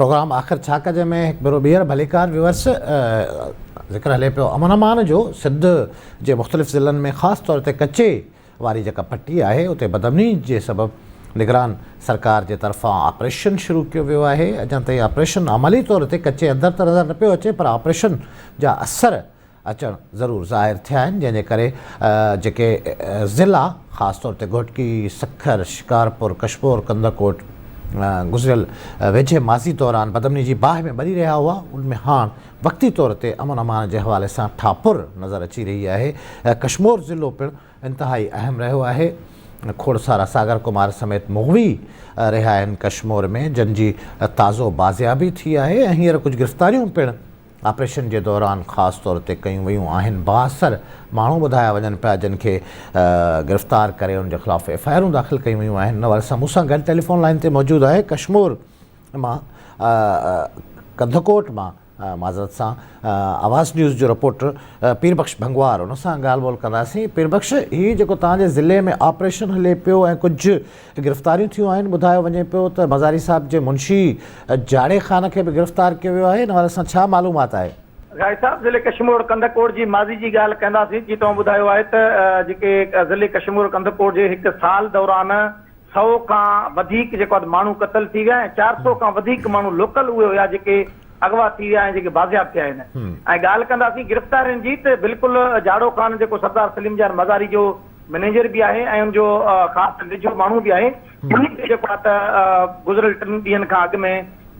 Programme آخر ڇا ڪجي ۾ هڪ ڀيرو ٻيهر ڀليڪار ويورس ذڪر هلي پيو امن امان جو سنڌ جي مختلف ضلعن ۾ خاص طور تي ڪچي واري جيڪا پٽي آهي اتي بدامني جي سبب نگران سرڪار جي طرفان آپريشن شروع ڪيو ويو آهي اڃا تائين آپريشن عملي طور تي ڪچي اندر ته نظر نه پيو اچي پر آپريشن جا اثر اچڻ ضرور ظاهر ٿيا آهن جنهن جي ڪري جيڪي ضلعا خاص طور تي گهوٽڪي، سکر، شڪارپور، ڪشمور، ڪنڌڪوٽ گذريل ويجهي ماضي دوران بدامني جي باهه ۾ ٻري رهيا هئا ان ۾ هاڻ وقتي طور تي امن امان جي حوالي سان ٺاهپر نظر اچي رهي آهي ڪشمور ضلعو پڻ انتهائي اهم رهيو آهي کوڙسارا ساگر ڪمار سميت مغوي رهيا آهن ڪشمور ۾ جن جي تازو بازيابي ٿي آهي ۽ هينئر ڪجهه گرفتاريون پڻ آپريشن جي دوران خاص طور تي ڪيون ويون آهن، بااثر ماڻهو ٻڌايا وڃن پيا جن کي گرفتار ڪري ان جي خلاف ايف آء آرون داخل ڪيون ويون آهن انور سان مون سان گڏ ٽيليفون لائين تي موجود آهي ڪشمور مان ڪنڌڪوٽ مان معذرت سان آواز نيوز جو رپورٽر پير بخش ڀنگوار ان سان ڳالهه ٻولهه ڪنداسين پير بخش هي جيڪو توهان جي ضلعي ۾ آپريشن هلي پيو ۽ ڪجهه گرفتاريون ٿيون آهن، ٻڌايو وڃي پيو ته مزاري صاحب جي منشي جاڙي خان کي به گرفتار ڪيو ويو آهي، ان حوالي سان ڇا معلومات آهي؟ غائب صاحب ضلعي ڪشمور ڪنڌڪوٽ جي ماضي جي ڳالهه ڪنداسين جي توهان ٻڌايو آهي ته جيڪي ضلعي ڪشمور ڪنڌڪوٽ جي هڪ سال دوران سئو کان وڌيڪ جيڪو آهي ماڻهو قتل ٿي ويا ۽ چار سئو کان وڌيڪ ماڻهو لوڪل اهي هيا جيڪي اغوا ٿي ويا ۽ جيڪي بازياب ٿيا آهن ۽ ڳالهه ڪنداسين گرفتارين جي ته بلڪل جاڙو خان جيڪو سردار سليم جان مزاري جو مئنيجر به آهي ۽ ان جو خاص ويجهو ماڻهو به آهي، انهي کي جيڪو آهي ته گذريل ٽن ڏينهن کان اڳ ۾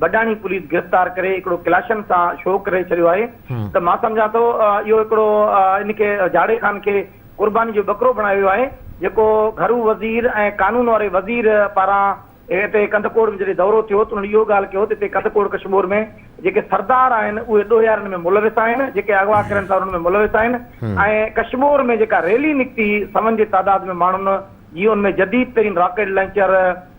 بڊاڻي پوليس گرفتار ڪري هڪڙو ڪلاشن سان شو ڪري ڇڏيو آهي ته مان سمجهان ٿو اهو هڪڙو ان کي جاڙي خان کي قرباني جو ٻڪرو بڻايو ويو آهي جيڪو گهرو وزير ۽ قانون واري وزير پاران ته هتي ڪنڌڪوٽ ۾ جڏهن دورو ٿيو ته انهن اهو ڳالهه ڪيو ته هتي ڪنڌڪوٽ ڪشمور ۾ جيڪي سردار آهن اهي ڏوهيارن ۾ ملوث آهن جيڪي اغوا ڪرن ٿا انهن ۾ ملوث آهن ۽ ڪشمور ۾ جيڪا ريلي نڪتي سون جي تعداد ۾ ماڻهن جي ان ۾ جديد ترين راڪيٽ لانچر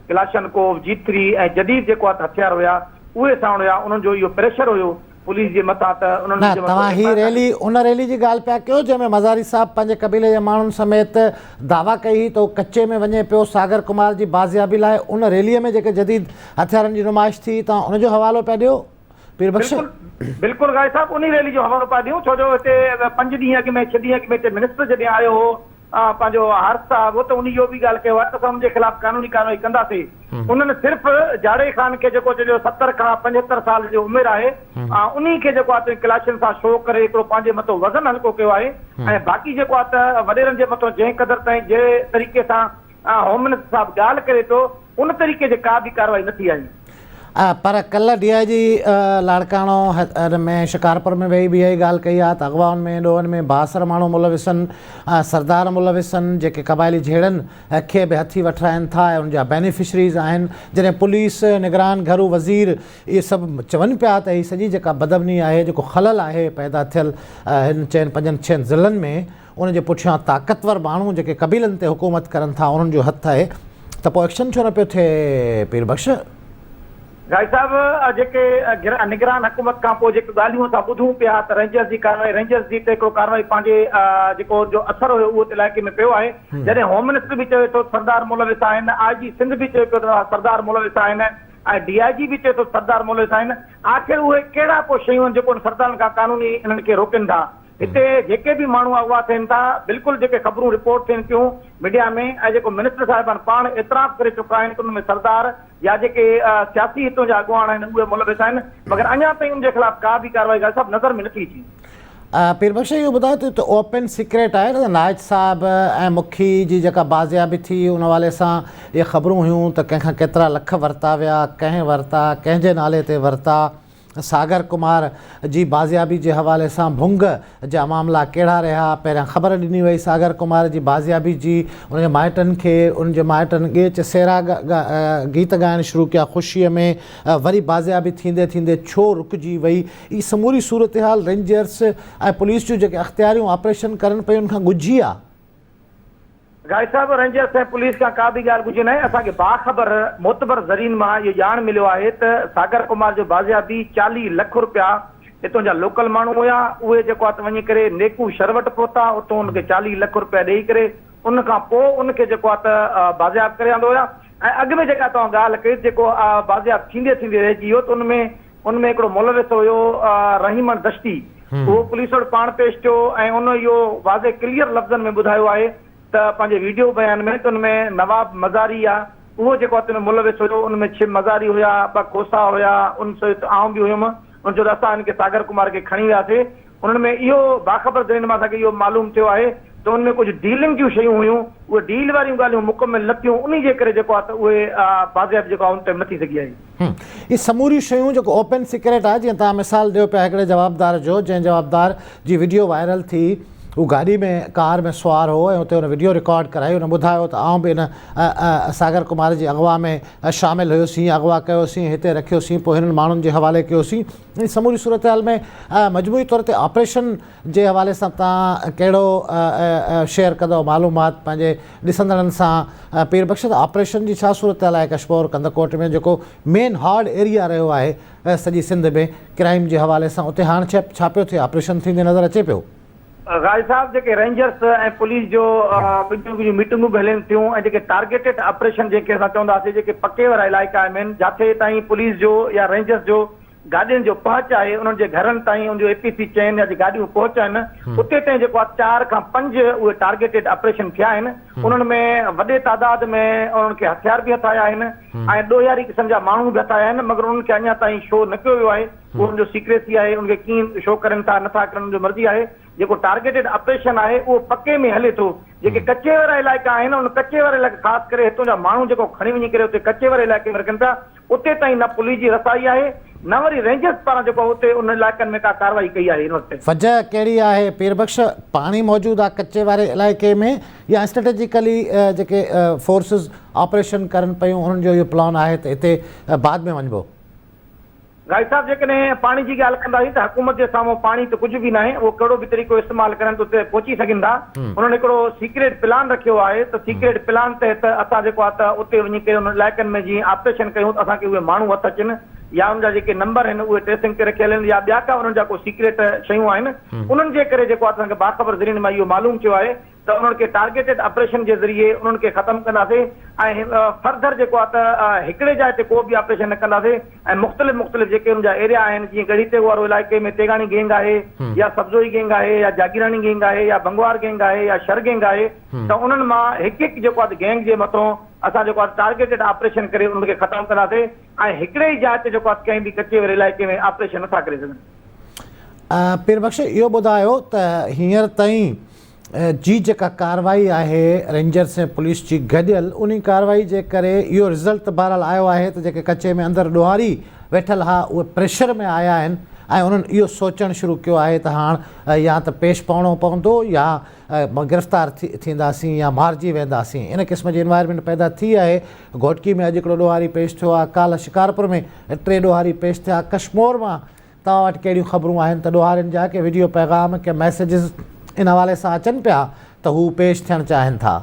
ڪلاشن ڪوف جي ٿري ۽ جديد جيڪو هٿيار هيا اهي ساڻ هيا انهن جو اهو پريشر هيو پوليس جي متان ته انهن نه جو توهان هي ريلي ان ريلي جي ڳالهه پيا ڪيو جنهن ۾ مزاري صاحب پنهنجي قبيلي جي ماڻهن سميت دعويٰ ڪئي هئي ته هو ڪچي ۾ وڃي پيو ساگر ڪمار جي بازيابي لاء ان ريلي ۾ جيڪي جديد هٿيارن جي نمائش ٿي توهان ان جو حوالو پيا ڏيو پير بخش. بلڪل بلڪل غالي صاحب انهي ريلي جو حوالو پيا ڏيون ڇو جو هتي پنج ڏينهن اڳ ۾ ڇهه ڏينهن اڳ ۾ هتي منسٽر جڏهن آيو هو پنهنجو حارث صاحب هو ته انهن اهو به ڳالهه ڪيو آهي ته اسان انهن جي خلاف قانوني ڪارروائي ڪنداسين انهن صرف جاڙي خان کي جيڪو چئجو ستر کان پنجهتر سال جو عمر آهي انهي کي جيڪو آهي ڪلاشن سان شو ڪري هڪڙو پنهنجي مٿو وزن هلڪو ڪيو آهي ۽ باقي جيڪو آهي ته وڏيرن جي مٿو جنهن قدر تائين جنهن طريقي سان آء هوم منسٽر صاحب ڳالهه ڪري ٿو ان طريقي جي ڪا به ڪارروائي نه ٿي آهي. پر ڪلهه ڊي آء جي لاڙڪاڻو ان ۾ شڪارپور ۾ ويهي به اهائي ڳالهه ڪئي آ ته اغوائن ۾ ڏوهن ۾ بااثر ماڻهو ملوث ان سردار ملوث ان جيڪي قبائلي جهيڙن کي به هٿي وٺرائن ٿا ۽ ان جا بينيفشريز آهن جڏهن پوليس نگران گهرو وزير اهي سڀ چون پيا ته هي سڄي جيڪا بدامني آهي جيڪو خلل آهي پيدا ٿيل هن چئن پنجن ڇهن ضلعن ۾ ان جي پٺيان طاقتور ماڻهو جيڪي قبيلن تي حڪومت ڪرن ٿا انهن جو هٿ آهي ته پوء ايڪشن ڇو نه پيو ٿئي پير بخش؟ گائي صاحب جيڪي نگران حڪومت کان پوء جيڪي ڳالهيون اسان ٻڌون پيا ته رينجرز جي ڪارروائي رينجرز جي تي هڪڙو ڪارروائي پنهنجي جيڪو ان جو اثر هيو اهو ات علائقي ۾ پيو آهي جڏهن هوم منسٽر به چوي ٿو سردار ملوث آهن آء جي سنڌ به چوي پيو ته سردار ملوث آهن ۽ ڊي آء جي به چوي ٿو سردار ملوث آهن آخر اهي ڪهڙا ڪو شيون آهن جيڪو ان سردارن کان قانوني انهن کي روڪين ٿا هتي جيڪي به ماڻهو اغوا ٿين ٿا، بلڪل جيڪي خبرون رپورٽ ٿين ٿيون ميڊيا ۾ ۽ جيڪو منسٽر صاحبان پاڻ اعتراف ڪري چڪا آهن ته ان ۾ سردار يا جيڪي سياسي هتون جا اڳواڻ آهن اهي ملوث آهن مگر اڃا تائين ان جي خلاف ڪا به ڪارروائي غالب صاحب نظر ۾ نٿي اچي. پير بخش اهو ٻڌايو ته هتي اوپن سيڪريٽ آهي ته نائچ صاحب ۽ مکي جي جيڪا بازيابي ٿي ان حوالي سان اهي خبرون هيون ته ڪنهن کان ڪيترا لک ورتا ويا، ڪنهن ورتا، ڪنهن جي نالي تي ورتا. ساگر ڪمار جي بازيابي جي حوالي سان ڀنگ جا معاملا ڪهڙا رهيا، پهريان خبر ڏني وئي ساگر ڪمار جي بازيابي جي، ان جي مائٽن کي ان جي مائٽن ڳيچ سهرا گيت ڳائڻ شروع ڪيا خوشي ۾ وري بازيابي ٿيندي ٿيندي ڇو رڪجي وئي هي سموري صورتحال رينجرس ۽ پوليس جون جيڪي اختياريون آپريشن ڪرن پيون ان کان ڳجهي آ. غالب صاحب، رينجرز ۽ پوليس کان ڪا ٻي ڳالهه ڳجهي ناهي، اسان کي باخبر معتبر ذريعن مان اهو ڄاڻ مليو آهي ته ساگر ڪمار جو بازيابي چاليهه لک رپيا هتون جا لوڪل ماڻهو هيا، اهي جيڪو آهي ته وڃي ڪري نيڪو شر وٽ پهتا، اتون ان کي چاليهه لک رپيا ڏيئي ڪري ان کان پوء ان کي جيڪو آهي ته بازياب ڪري آندو هيا ۽ اڳ ۾ جيڪا توهان ڳالهه ڪئي ته جيڪو بازياب ٿيندي ٿيندي رهجي ويو ته ان ۾ ان ۾ هڪڙو ملوث هيو رحيمڻ دشتي، اهو پوليس وٽ پاڻ پيش ٿيو ۽ ان اهو واضح ڪليئر لفظن ۾ ٻڌايو آهي ته پنهنجي ويڊيو بيان ۾ ته ان ۾ نواب مزاري آ اهو جيڪو اتي ۾ ملوث هيو ان ۾ ڇهه مزاري هيا ٻه کوسا هيا ان سهت آئون به هيم ان چيو ته اسان هن کي ساگر ڪمار کي کڻي وياسي انهن ۾ اهو باخبر ذريعن مان اسان کي اهو معلوم ٿيو آهي ته ان ۾ ڪجهه ڊيلنگ جون شيون هيون اهي ڊيل واريون ڳالهيون مڪمل نه ٿيون انهي جي ڪري جيڪو آ ته اهي بازياب جيڪو آ ان تي نٿي سگهي آهي. اهي سموريون شيون جيڪو اوپن سيڪريٽ آهي جيئن توهان مثال ڏيو پيا هڪڙي جوابدار جو جنهن جوابدار جي وڊيو وائرل ٿي هو گاڏي ۾ ڪار ۾ سوار هو ۽ اتي هن وڊيو رڪارڊ ڪرائي هن ٻڌايو ته آئون به ان ساگر ڪمار جي اغوا ۾ شامل هيو سين اغوا ڪيو سين هتي رکيو سين پوء هنن ماڻهن جي حوالي ڪيو سين سموري صورتحال ۾ مجموعي طور تي آپريشن جي حوالي سان توهان ڪهڙو شيئر ڪندؤ معلومات پنهنجي ڏسندڙن سان پير بخش آپريشن جي ڇا صورتحال آهي ڪشمور ڪنڌڪوٽ ۾ جيڪو مين هارڊ ايريا رهيو آهي سڄي سنڌ ۾ ڪرائيم جي حوالي سان اتي هاڻ ڇا پيو ٿئي آپريشن ٿيندي نظر اچي پيو. غالي صاحب جيڪي رينجرس ۽ پوليس جو ٻنهي جون ميٽنگون به هلين ٿيون ۽ جيڪي ٽارگيٽيڊ آپريشن جنهن کي اسان چونداسي جيڪي پڪي وارا علائقا آهن مين جاٿي تائين پوليس جو يا رينجرس جو گاڏين جو پهچ آهي انهن جي گهرن تائين ان جو اي پي سي چين يا جي گاڏيون پهچن اتي تائين جيڪو آهي چار کان پنج اهي ٽارگيٽيڊ آپريشن ٿيا آهن انهن ۾ وڏي تعداد ۾ انهن کي هٿيار به هٿايا آهن ۽ ڏوهياري قسم جا ماڻهو به هٿايا آهن مگر انهن کي اڃا تائين شو نه ڪيو ويو آهي اهو ان جو سيڪريسي آهي ان کي ڪيئن شو ڪرن ٿا نٿا ڪرن ان جو مرضي آهي جيڪو ٽارگيٽيڊ آپريشن آهي اهو پڪي ۾ هلي ٿو جيڪي ڪچي وارا علائقا آهن ان ڪچي وارا علائقا خاص ڪري هتون جا ماڻهو جيڪو کڻي وڃي ڪري اتي ڪچي واري علائقي ۾ رکن ٿا اتي تائين نه پلي جي رسائي آهي نه وري رينجرز پاران جيڪو اتي ان علائقن ۾ ڪا ڪارروائي ڪئي آهي ان وقت. وجه ڪهڙي آهي پير بخش؟ پاڻي موجود آ ڪچي واري علائقي ۾ يا اسٽريٽجيڪلي جيڪي فورسز آپريشن ڪرن پيون انهن جو اهو پلان آهي ته اتي بعد ۾ وڃبو؟ غائي صاحب جيڪڏهن پاڻي جي ڳالهه ڪنداسين ته حڪومت جي سامهون پاڻي ته ڪجهه به ناهي اهو ڪهڙو به طريقو استعمال ڪرن ته اتي پهچي سگهن ٿا. انهن هڪڙو سيڪريٽ پلان رکيو آهي ته سيڪريٽ پلان تحت اسان جيڪو آهي ته اتي وڃي ڪري انهن علائقن ۾ جيئن آپريشن ڪيون ته اسان کي اهي ماڻهو هٿ اچن يا انهن جا جيڪي نمبر آهن اهي ٽريسنگ تي رکيل آهن يا ٻيا ڪا انهن جا ڪو سيڪريٽ شيون آهن انهن جي ڪري جيڪو آهي ته اسان کي باخبر ذريعن مان اهو معلوم ٿيو آهي ته انهن کي ٽارگيٽيڊ آپريشن جي ذريعي انهن کي ختم ڪنداسين ۽ فرڌر جيڪو آهي ته هڪڙي جاء تي ڪو به آپريشن نه ڪنداسين ۽ مختلف مختلف جيڪي ان جا ايريا آهن جيئن ڳڙهي تيغ وارو علائقي ۾ تيغاڻي گينگ آهي يا سبزوئي گينگ آهي يا جاگيراڻي گينگ آهي يا ڀنگوار گينگ آهي يا شر گينگ آهي ته انهن مان هڪ هڪ جيڪو آهي گينگ جي مٿون اسان جيڪو آهي ٽارگيٽيڊ آپريشن ڪري انهن کي ختم ڪنداسي ۽ هڪڙي ئي جاء تي جيڪو آهي ڪنهن به ڪچي واري علائقي ۾ آپريشن نٿا ڪري سگهن. پير بخش اهو ٻڌايو ته هينئر تائين جي جيڪا ڪارروائي آهي رينجرس ۽ پوليس جي گڏيل انهي ڪارروائي جي ڪري اهو رزلٽ ته بهرحال آيو آهي ته جيڪي ڪچي ۾ اندر ڏوهاري ويٺل ها اهي پريشر ۾ آيا آهن ۽ انهن اهو سوچڻ شروع ڪيو آهي ته هاڻ يا ته پيش پوڻو پوندو يا گرفتار ٿينداسين يا مارجي وينداسين ان قسم جي انوائرمينٽ پيدا ٿي آهي گهوٽڪي ۾ اڄ هڪڙو ڏوهاري پيش ٿيو آهي ڪالهه شڪارپور ۾ ٽي ڏوهاري پيش ٿيا ڪشمور مان توهان وٽ ڪهڙيون خبرون آهن ته ڏوهارين جا ڪي وڊيو پيغام ڪي ميسيجز ان حوالي سان اچن پيا ته هو پيش ٿيڻ چاهين ٿا.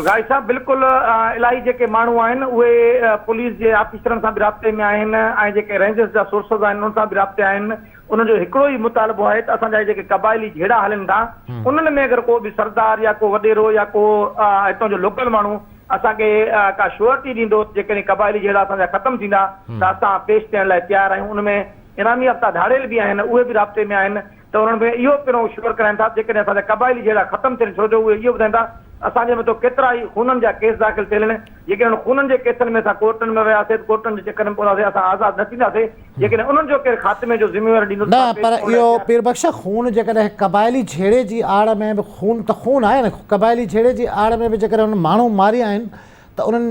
غازي صاحب بلڪل الائي جيڪي ماڻهو آهن اهي پوليس جي آفيسرن سان به رابطي ۾ آهن ۽ جيڪي رينجرس جا سورسز آهن انهن سان به رابطي آهن انهن جو هڪڙو ئي مطالبو آهي ته اسان جا هي جيڪي قبائلي جهيڙا هلن ٿا انهن ۾ اگر ڪو به سردار يا ڪو وڏيرو يا ڪو هتان جو لوڪل ماڻهو اسان کي ڪا شيورٽي ڏيندو ته جيڪڏهن قبائلي جهيڙا اسان جا ختم ٿيندا ته اسان پيش ٿيڻ لاء تيار آهيون ان ۾ انعام يافته ڌاڙيل به آهن اهي به رابطي ۾ آهن ته انهن کي اهو پڻو شيور ڪراين ٿا ته جيڪڏهن اسان جا قبائلي جهيڙا ختم ٿين ڇو جو اهي اهو ٻڌائين ٿا اسان جي مٿو ڪيترا ئي خونن جا ڪيس داخل ٿيل آهن جيڪڏهن انهن خونن جي ڪيسن ۾ اسان ڪورٽن ۾ وياسي ته ڪورٽن جي چڪر ۾ پونداسي اسان آزاد نه ٿينداسي جيڪڏهن انهن جو ڪير خاتمي جو ذميوار ڏيندو ته مان پيش ڪرڻ لاء تيار آهيان. پير بخش خون جيڪڏهن قبائلي جهيڙي جي آڙ ۾ به خون ته خون آهي نه قبائلي جهيڙي جي آڙ ۾ به جيڪڏهن انهن ماڻهو ماري آهن ته انهن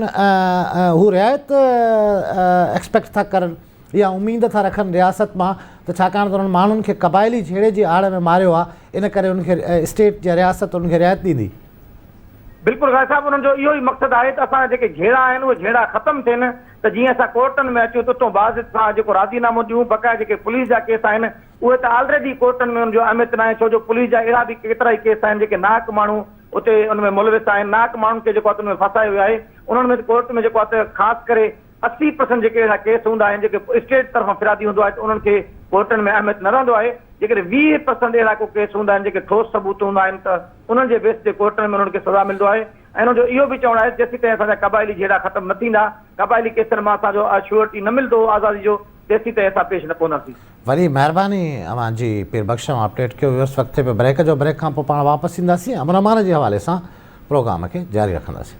هو رعايت ايڪسپيڪٽ ٿا ڪرن يا اميد ٿا رکن رياست مان ته ڇاڪاڻ ته انهن ماڻهن کي قبائلي جهيڙي جي آڙ ۾ ماريو آهي ان ڪري انهن کي اسٽيٽ يا رياست انهن کي رعايت ڏيندي. بلڪل غازي صاحب انهن جو اهو ئي مقصد آهي ته اسان جا جيڪي جهيڙا آهن اهي جهيڙا ختم ٿين ته جيئن اسان ڪورٽن ۾ اچون ته اتون باضت سان جيڪو راضي نامو ڏيون بقايا جيڪي پوليس جا ڪيس آهن اهي ته آلريڊي ڪورٽن ۾ ان جو اهميت ناهي ڇو جو پوليس جا اهڙا به ڪيترائي ڪيس آهن جيڪي ناحق ماڻهو اتي ان ۾ ملوث آهن ناحق ماڻهن کي جيڪو آهي ته ان ۾ ڦاسايو ويو آهي انهن ۾ ته ڪورٽ ۾ جيڪو آهي ته خاص ڪري اسي پرسنٽ جيڪي اهڙا ڪيس هوندا آهن جيڪي اسٽيٽ طرفان فرادي هوندو آهي ته انهن کي ڪورٽن ۾ اهميت نه رهندو آهي جيڪڏهن ويهه پرسنٽ اهڙا ڪو ڪيس هوندا آهن جيڪي ٺوس ثبوت هوندا آهن ته انهن جي بيس تي ڪورٽن ۾ انهن کي سزا ملندو آهي انهن جو اهو به چوڻ آهي ته جيسيتائين اسان جا قبائلي جهيڙا ختم نه ٿيندا، قبائلي ڪيسن مان اسان جو شيورٽي نه ملندو آزادي جو، تيسيتائين اسان پيش نه پونداسين. وڏي مهرباني اوهان جي پير بخش اوهان اپڊيٽ ڪيو ويوس وقت تي به بريڪ جو بريڪ کان پوء پاڻ واپس اينداسين امن امان جي حوالي سان پروگرام کي جاري رکنداسين.